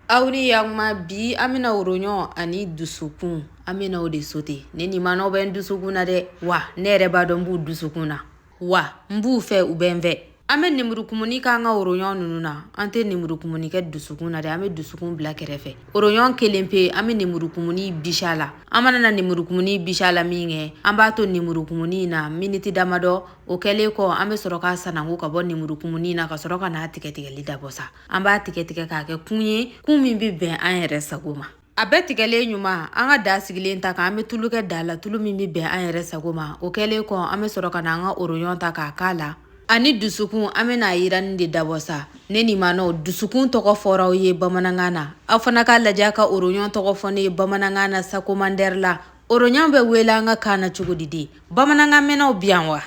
aw ni yakuma bi an bɛna oroɲɔn ani dusukun an bɛna o de sote ne ni manaw bɛ n dusukun na dɛ wa ne yɛrɛ b'a dɔn n b'u dusukun na wa n b'u fɛ u bɛ n fɛ an bɛ nemurukumuni k'an ka oroɲɔn ninnu na an tɛ nemurukumuni kɛ dusukun na dɛ an bɛ dusukun bila kɛrɛfɛ oroɲɔn kelen pe an bɛ nemurukumuni bisi a la an mana na nemurukumuni bisi a la min kɛ an b'a to nemurukumuni na miniti damadɔ o kɛlen kɔ an bɛ sɔrɔ k'a sananko ka bɔ nemurukumuni na ka sɔrɔ ka n'a tigɛtigɛli dabɔ sa an b'a tigɛtigɛ k'a kɛ kun ye kun min bɛ bɛn an yɛrɛ sago ma a bɛɛ tigɛlen ɲuman an ka da sigilen ta kan an bɛ tulu kɛ da la tulu min bɛ bɛn an yɛrɛ sago ma o kɛlen kɔ an bɛ sɔrɔ ka na an ka oroɲɔn ta k'a k'a la ani dusukun an bɛna a yiranni de dabɔ sa ne ni maanaw dusukun tɔgɔ fɔra aw ye bamanankan na aw fana k'a lajɛ ka oroɲɔn tɔgɔ fɔ ne ye bamanankan na sa komandɛri la oroɲɔn bɛ wele an ka kan na cogo di de bamanankan mɛnnaw bi yan wa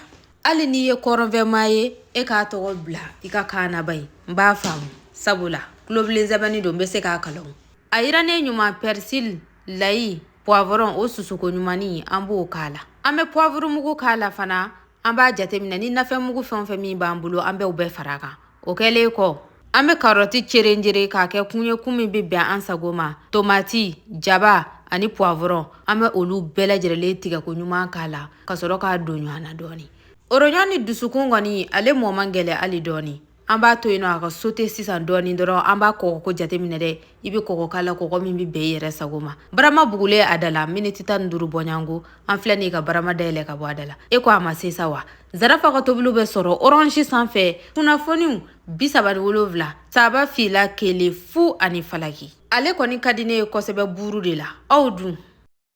hali n'i ye kɔrɔnfɛmaa ye e k'a tɔgɔ bila i ka kan na bayo n b'a faamu sabula tulobilen sɛbɛnni don n bɛ se k'a kalan a yirannen ɲuman pɛrisili layi puwavɔrɔn o susuko ɲumanni an b'o k'a la an bɛ puwavurumugu k'a la fana an b'a jateminɛ ni nafɛnmugu fɛn o fɛn min b'an bolo an bɛ u bɛɛ fara a kan o kɛlen kɔ an bɛ karɔti cerenjere k'a kɛ kun ye kun min bɛ bɛn an sago ma tomati jaba ani puwavɔrɔn an bɛ olu bɛɛ lajɛlen tigɛko ɲuman k'a la ka sɔrɔ k'a don ɲɔgɔn na dɔɔnin oroɲɔn ni dusukun kɔni ale mɔ man gɛlɛ hali dɔɔnin an b'a to yen nɔ a ka sote sisan dɔɔnin dɔrɔn an b'a kɔgɔko jateminɛ dɛ i bɛ kɔgɔ k'a la kɔgɔ min bɛ bɛn i yɛrɛ sago ma barama bugulen a da la miniti tan ni duuru bɔɲɔgɔnko an filɛ nin ka barama dayɛlɛ ka bɔ a da la e ko a ma se sa wa zarafa ka tobiliw bɛ sɔrɔ orange sanfɛ kunnafoniw bi saba ni wolonfila saba fila kelen fu ani falaki ale kɔni ka di ne ye kosɛbɛ buuru de la aw dun